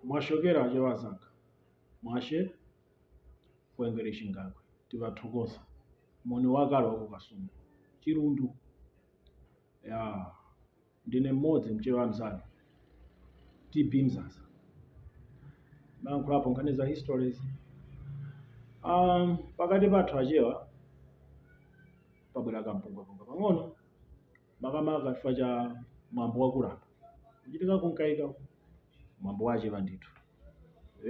Mwaswera achewa azanga mwashe kwengere chingakwe tikuthokoza moni wakale wa ku kasungu chilundu yaa ndine mmodzi mchewa mzanu tb mzaza niyankhulapo nkhani za histories um, pakati pathu achewa pabwera kampungwepungwe pang'ono makamaka chifukwa cha mwambo wa kulamba kuchitika ku mkaika. mwambo wachewa ndithu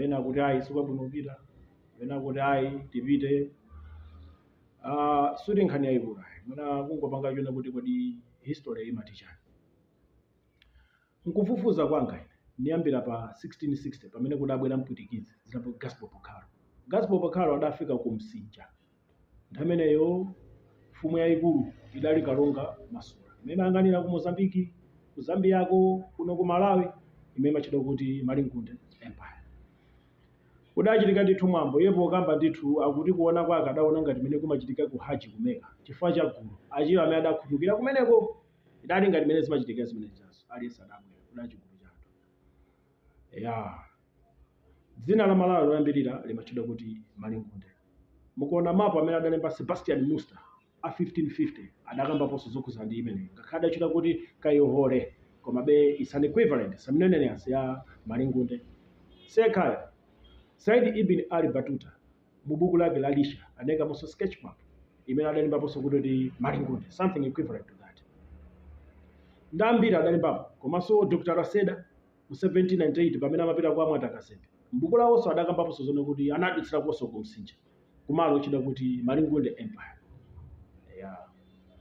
ena kuti ayi sikwabwino kupita ena kuti ayi tipite Ah, suti nkhani yayikulu ayi mwina kungopanga chona kuti kodi history imati chani nkufufuza kwanga ine niyambira pa 1660 pamene kudabwera mpwitikizi dzina lake gaspar bocarro gaspar bocarro adafika ku msinja Nthawi imeneyo mfumu yaikulu idali Kalonga Mazula imene imayang'anira ku Mozambique, ku Zambiako, kuno ku Malawi imene imatchedwa kuti Malingunde Empire. Kudachitika ndithu mwambo, iye pokamba ndithu akuti kuona kwake adaona ngati mmene kumachitika ku Haji ku Mecca chifukwa cha gulu, Achewa amene adakhutukira kumeneko. Idali ngati mmene zimachitikira zimene zijazo, aliyense adabwera, kudali chigulu cha anthu. Eya, dzina la Malawi loyambirira limatchedwa kuti Malingunde. Mukaona mapu amene adalemba Sebastian Munster a 1550 adakambaponso zokhudzana ndi imeneyi ngakhale adachita kuti Kayihole komabe its an equivalent synonymous ya Malingunde. Sekar, Said Ibn Al Battuta. Mu buku lake la Lisha anaikamonso sketch map imene adalembaponso kuti kuti Malingunde, something equivalent to that. Ndi ambiri adalembapo komanso Dr. Lacerda mu 1798 pamene amapita kwa Mwata Kazembe, m'buku lawonso adakambaponso zonena kuti anadutsirakonso ku Msinja kumalo otchedwa kuti Malingunde Empire. Eya,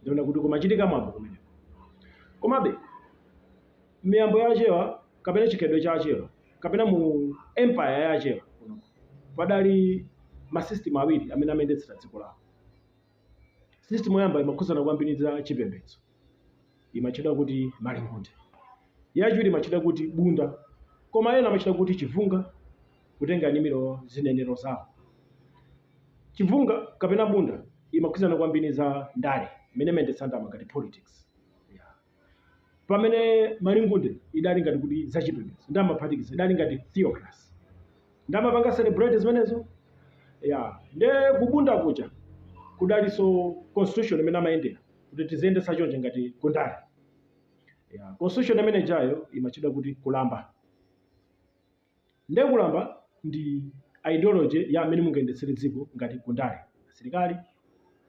ndi kuona kuti kumachitika mwambo kumeneko. Komabe, miyambo ya achewa kapena chikhalidwe cha achewa kapena mu empire ya achewa padali ma system awiri amene amayendetsera dziko lawo system yoyamba imakhudzana kwambiri za chipembedzo imatchedwa kuti malingunde yachiwiri imatchedwa kuti bunda koma ena amatchula kuti chivunga kutengera ni zinenero zawo chivunga kapena bunda imakhudzana kwambiri za ndale imene imayendetsedwa ngati politics pamene malingunde idali ngati kuti zachipembedzo nde amaphatikiza idali ngati theocracy nde amapanga celebrate zimenezo ya nde kubunda kuja kudalinso constitution imene amayendera kuti tiziyendetsa chonje ngati kundale ya constitution imene ijayo imatchedwa kuti kulamba Nde kulamba ndi ideology ya mmene mungayendetsere dziko ngati ku ndale, asilikali,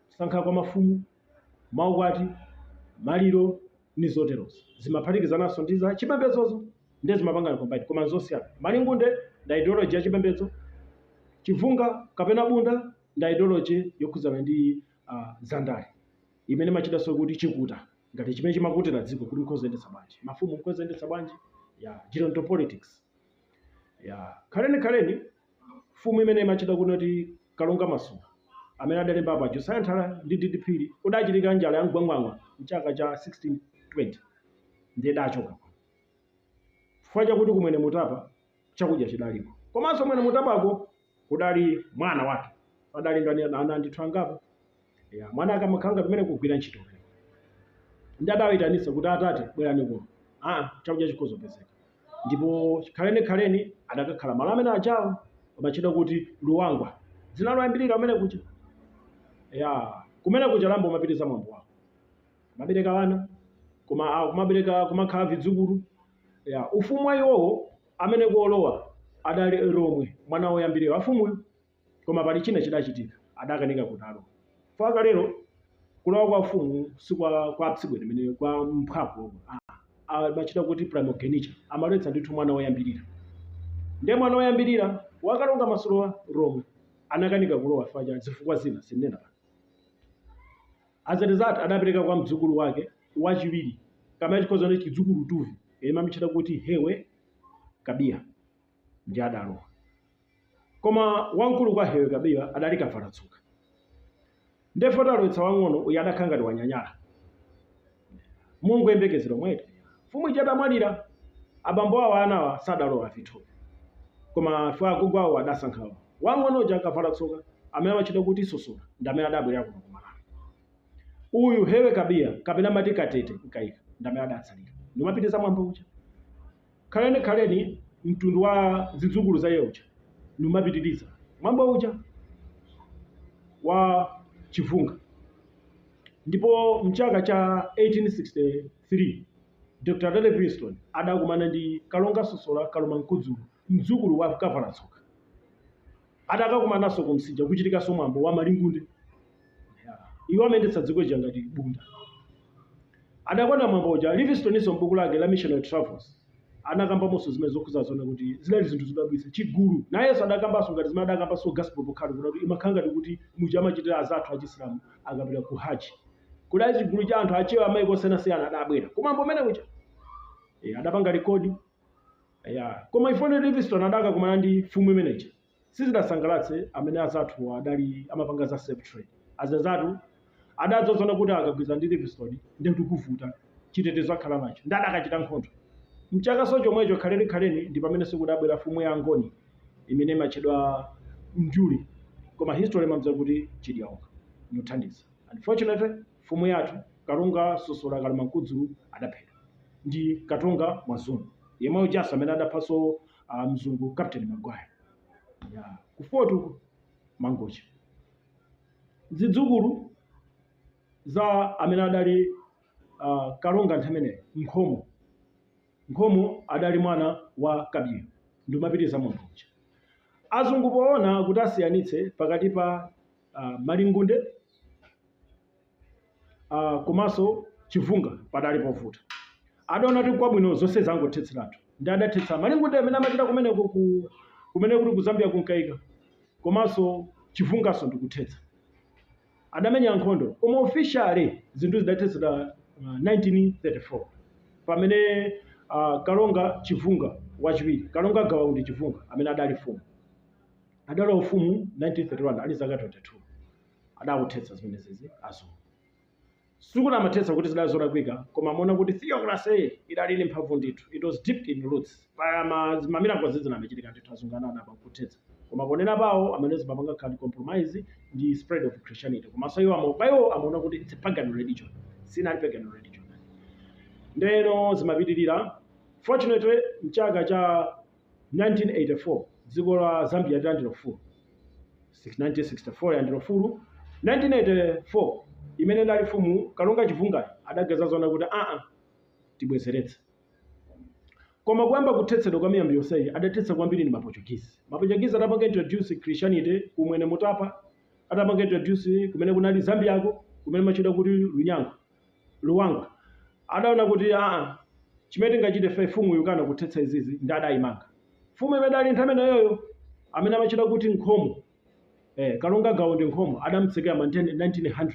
kusankha kwa mafumu, maukwati, maliro ndi zoterozo. Zimaphatikizananso ndi za chipembedzozo nde zimapanga combine koma nzosiyana. Malingunde ndi ideology ya chipembedzo, chivunga kapena bunda ndi ideology yokhudzana ndi za ndale imene imatchedwanso kuti chikuta. ngati chimene chimakutira dziko kuti mkozendetsa bwanji mafumu mkozendetsa bwanji ya geronto politics ya khaleni khaleni mfumu imene imatchedwa kuti kalonga masula amene adalemba apa josaya nthara ndi di di phiri kudachitika njala ya mgwangwangwa mchaka cha 1620 ndiye adachoka chifukwa chakuti kumwene mutapa chakudya chidaliko komanso mwene mutapako kudali mwana wake padali ndani ana ana ndithu angapo ya mwana ake amakhala pamene kugwira ntchito pamene ndi adawayitanitsa kuti atate bwerani kuno ah chakudya chikhoza kupezeka ndipo khaleni khaleni adakakhala malo amene ajawo amatchedwa kuti luwangwa dzina loyambirira amene kuja ya kumene kuja lambo kumapitiriza mwambo wawo kumabereka wana kuma ah, kumabereka kumakhala vidzukulu ya ufumu wa iwowo amene kuolowa adali romwe mwana woyambirira wa mfumuyo koma pali china chidachitika adakanika kutero fukwa kalero kulowa kwa ufumu si kwa kwa tsibweni mene kwa mphwawo omwe Ah, ah, amatcha kuti primogeniture amaletsa ndithu mwana woyambirira ndiye mwana woyambirira wakalonga masulawa romwe anakanika kulowa fukwa cha zifukwa zina sinena pano As a result, adapereka kwa mdzukulu wake wachiwiri kapena tikhoza kuti chidzukulu tuvi yemwe amamutchera kuti Hewe Kabiya ndi adalowa. Koma wamkulu kwa Hewe Kabiya adali Kavala-tsoka. Ndiye foti alowetsa wang'ono uyu adakhala ngati wanyanyala mongoyembekezera mwayi eti. Mfumu ija adamwalira, abambo awo a anawa sadalowa afithupi koma chifukwa agogo awo adasankha wamng'ono uja Kavala-tsoka amene amatchedwa kuti Sosola ndi amene adabwerera kuno ku Malawi. Uyu, Hewe Kabiya kapena amati Katete Mkaika ndi amene adatsalira ndikumapitiriza mwambo uja. Khaleni Khaleni, mtundu wa zidzukulu za iye uja, ndikumapitiriza mwambo uja wa Chivunga ndipo m'chaka cha 1860. 3, Dr. David Livingstone adakumana ndi Kalonga Sosola Kalumankudzulu, mdzukulu wa Kavalatsoka. Adakakumananso ku Msinja kuchitikanso mwambo wa Malingunde. Yeah. Iwo amayendetsa dziko lija ngati bunda. Adakonda mwambo uja. Livingstoninso m'buku lake la Missionary Travels anakambamonso zimene zokhuza zona kuti zidali zinthu zodabwitsa chigulu nayenso adakambanso ngati zimene adakambanso Gaspar Bocarro kuti imakhala ngati kuti muja amachitira azathu achisilamu akapita ku haji Kudali chigulu cha anthu achewa amaiko osiyanasiyana adabwera kumwambo umene uja. E, adapanga rekodi. Eya, koma ifeyo Livingstone adakakumana ndi mfumu imene ija sizidasangalatse amene azathuwa adali amapanga za slave trade. Azathu adadzaona kuti akagwirizana ndi Livingstone ndiye kuti tivutika, chitetezo akhala nacho ndiye adakachita nkhondo. Mchaka chomwecho khalenikhaleni ndi pamenenso kudabwera mfumu ya Angoni imene imatchedwa Njuli koma history imamdziwa kuti Chidyaonga. Ndikuthandiza. Unfortunately mfumu yathu Kalonga Sosola Kalema Nkudzulu adaphedwa ndi Katonga Mwazungu yemwe ujanso amene adaphanso mzungu Captain Magwayi. Yaa ku Fort Mangochi. Zidzukulu za amene adali a Kalonga nthawi imeneyo Nkhomo. Nkhomo adali mwana wa Kabiyo ndi amapitiriza mwambo uja. Azungu poona kuti asiyanitse pakati pa. uh, malingunde uh, komanso chivunga padali povuta adaona kuti kwabwino zonse angothetseratu ndi adathetsa malingunde amene amachita kumeneko ku kumene kuti ku Zambia ku Mkaika komanso chivungaso ndikuthetsa adamenya nkhondo koma officially zinthu zidathetsedwa uh, 1934 pamene uh, kalonga chivunga wachiwiri kalonga gawa undi chivunga amene adali mfumu adalowa ufumu 1931 ali zaka 22 adakathetsa zimenezizi azungu sikuti amathetsa kuti zidali zolakwika koma amaona kuti theocracy idali ndi mphamvu ndithu it was deep in roots pa ma- ma miracles zinachitika ndithu azungu anadabwa pakuthetsa koma ponena pawo amene zimapangakhala compromise ndi spread of christianity komanso iwo amo- pa iwo amaona kuti it's a pagan religion sinali pagan religion ndeno sizimapitirira fortunately mchaka cha 1984 dziko la zambia litalandira ufulu 1964 yalandira ufulu 1984 imene idali mfumu kalonga chivungayo adadzaona kuti aa tibwezeretse koma kuyamba kuthetsedwa kwa miyambo yonseyi adathetsa kwambiri ndi ma Portuguese ma Portuguese adapanga introduce christianity ku mwene mutapa adapanga introduce kumene kunali zambiako kumene amatchedwa kuti lunyango Luwangwa adaona kuti aa chimene tingachite ife mfumu ikukana kuthetsa izizi ndi adayimanga mfumu imene idali nthawi imeneyoyo amene amatchedwa kuti Nkhomo ee Kalonga Gawa Undi Nkhomo adamutsekera ma 1900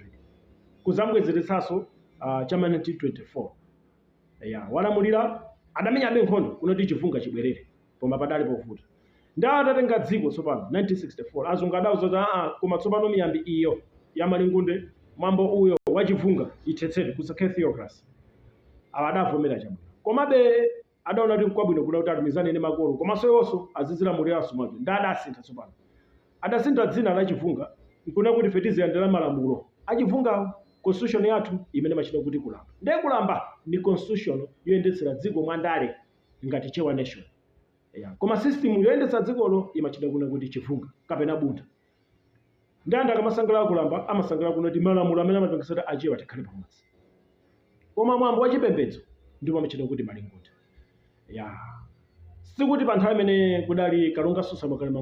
kudzambwezeretsanso aa chama 1924 eya walamulira adamenyabe nkhondo kuno kuti chivunga chibwerere koma padali povuta. Ndiye atatenga dziko tsopano 1964 azungu adauza kuti aa koma tsopano miyambi iyo ya malingunde mwambo uyo wa chivunga ithetsedwe kusakhale theocracy. Awa adavomera chabwino. Komabe adaona kuti nkwabwino kuda kuti alumikizane ndi makolo komanso iwonso azizilamuliranso mwake. Ndiye adasintha tsopano. Adasintha dzina la chivunga nkunena kuti ife tiziyendera malamulo a chivungawo. Constitution yathu imene imatchedwa kuti kulamba. Ndiye kulamba ndi constitution yoyendetsera dziko mwandale ngati Chewa Nation. Eya, koma system yoyendetsa dzikolo imachita kunena kuti chivunga kapena buntha. Ndi anthu akamasangalala kulamba amasangalala kunena kuti malamulo amene amapangitsa kuti achewa tikhale pamodzi. Koma mwambo wa chipembedzo ndipo amachita kuti malingunde. Ya. Sikuti pa nthawi imene kudali Kalonga Sosola Kalema